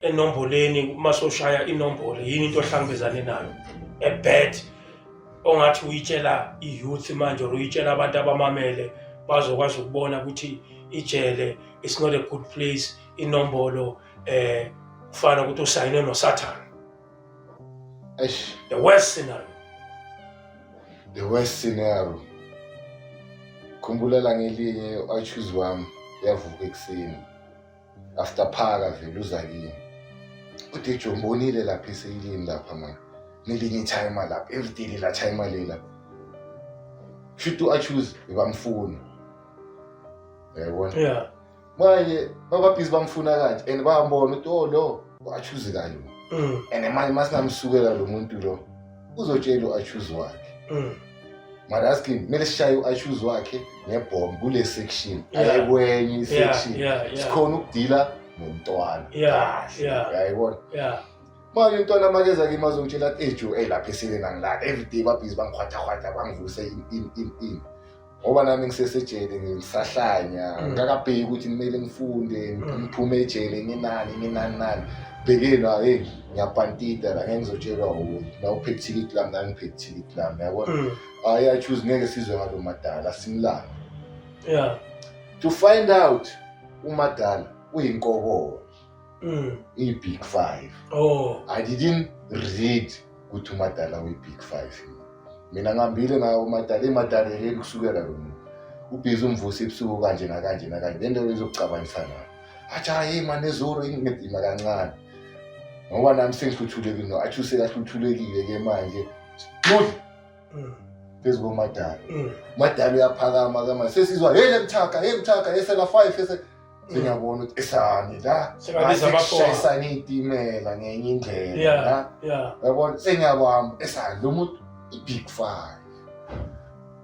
enomboleni uma soshaya inombolo yini into ohlangabezane nayo a bad ongathi uyitshela i-youth manje or uyitshela abantu abamamele bazokwazi ukubona ukuthi ijele it's not a good place inombolo eh kufana ukuthi usayine nosathane eish the worst scenario the worst scenario khumbula la ngelinye u-achuze wami yavuka ekuseni after phaka vele uza kini udj umbonile lapha iseyilini lapha manje nelinye ithayima lapha everyday lela thayima lela shuthi u-achuse bebamfuna yayibona yeah manje bababhizi bamfuna kanje and bayambona ukuthi o lo u-achuse kanje mm. and manje uma singamsukela lo muntu lo uzotshela u-achuse wakhe mm. mara asking kumele sishaye u-issues wakhe ngebhomu kule section Yeah. ayekwenye isection yeah, yeah, sikhona ukudila nomntwana Yeah, kahle yeah. uyayibona yeah. manje umntwana makeza kimi azongitshela athi ejo eyi lapha esile nangilala everyday babhizi bangikhwathahwatha bangivuse in in in in ngoba nami ngisesejele ngisahlanya Mm. ngakabheki ukuthi kumele ngifunde Mm. ngiphume ejele nginani nginani nani bhekeni hayi ngiyabhantida la ngeke ngizotshelwa wuye na uphethe ithikithi lami nami ngiphethe ithikithi lami yabona mm. hhayi achuze ngeke sizwe ngalo madala simlanga yeah to find out umadala uyinkokola mm. iyi-big five oh. i didn't read ukuthi umadala uyi-big five mina ngihambile ngayo umadala imadala yekeli kusukela lo muntu ubhizi umvusa ebusuku kanje nakanje nakanje le nto izokucabangisana athi hayi mane ezuru inginedima kancane ngoba nami sengihluthulekile no athi usekahluthulekile ke manje mudla mm. phezu komadala mm. umadala uyaphakama ke manje sesizwa hey lemthaka hey mthaka esela 5 ese mm. sengiyabona ukuthi esani la sekushayisana iyitimela ngenye indlela la yabona sengiyabamba esani lo muntu i-big five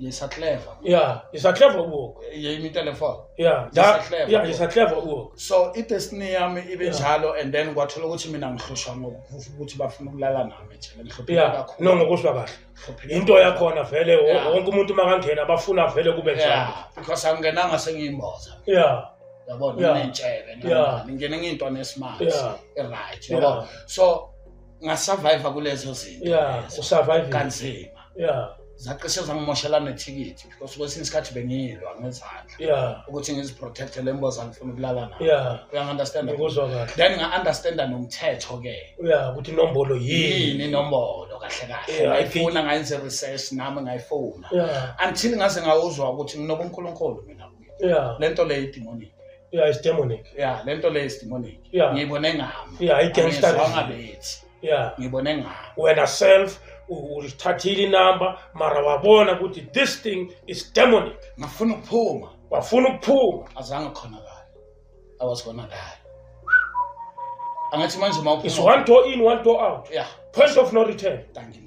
Jyssa clever. Yeah, Jyssa clever work. Ye imi telephone. Yeah, Jyssa clever. Yeah, Jyssa clever work. So i destiny yami ibe njalo and then kwathola ukuthi mina ngihlushwa ngokufuthi ukuthi bafuna ukulala nami nje. Ngihlupheka kakhulu. No ngokuswa kahle. Into yakhona vele wonke umuntu makangena bafuna vele kube njalo. Yeah, because angenanga sengiyimboza. Yeah. Yabona nginentshebe nami. Ngingena ngintwana esimart. Yeah. Right. Yabona. So ngasurvive kulezo zinto yeah usurvive kanzima yeah zacishe zangimoshela nethikithi because kwesinye isikhathi bengiyilwa ngezandla yeah ukuthi ngiziprotecte le mboza ngifuna ukulala nayo yeah uyangi-understand ngikuzwa kahle then nga-understanda nomthetho ke yeah ukuthi inombolo yini inombolo kahle kahle ngayifuna ngayenze research nami ngayifuna yeah until ngaze ngawuzwa ukuthi nginobunkulunkulu mina yeah le nto leyo idemonic yeah it's demonic yeah le nto leyo is demonic yeah ngiyibone ngami yeah i can start ngabethi yeah ngibone ngami wena self ulithathile inamba mara wabona ukuthi this thing is demonic ngafuna ukuphuma wafuna ukuphuma azange khonakala i was gonna die angathi manje uma uphuma is one door in one door out yeah point of no return thank you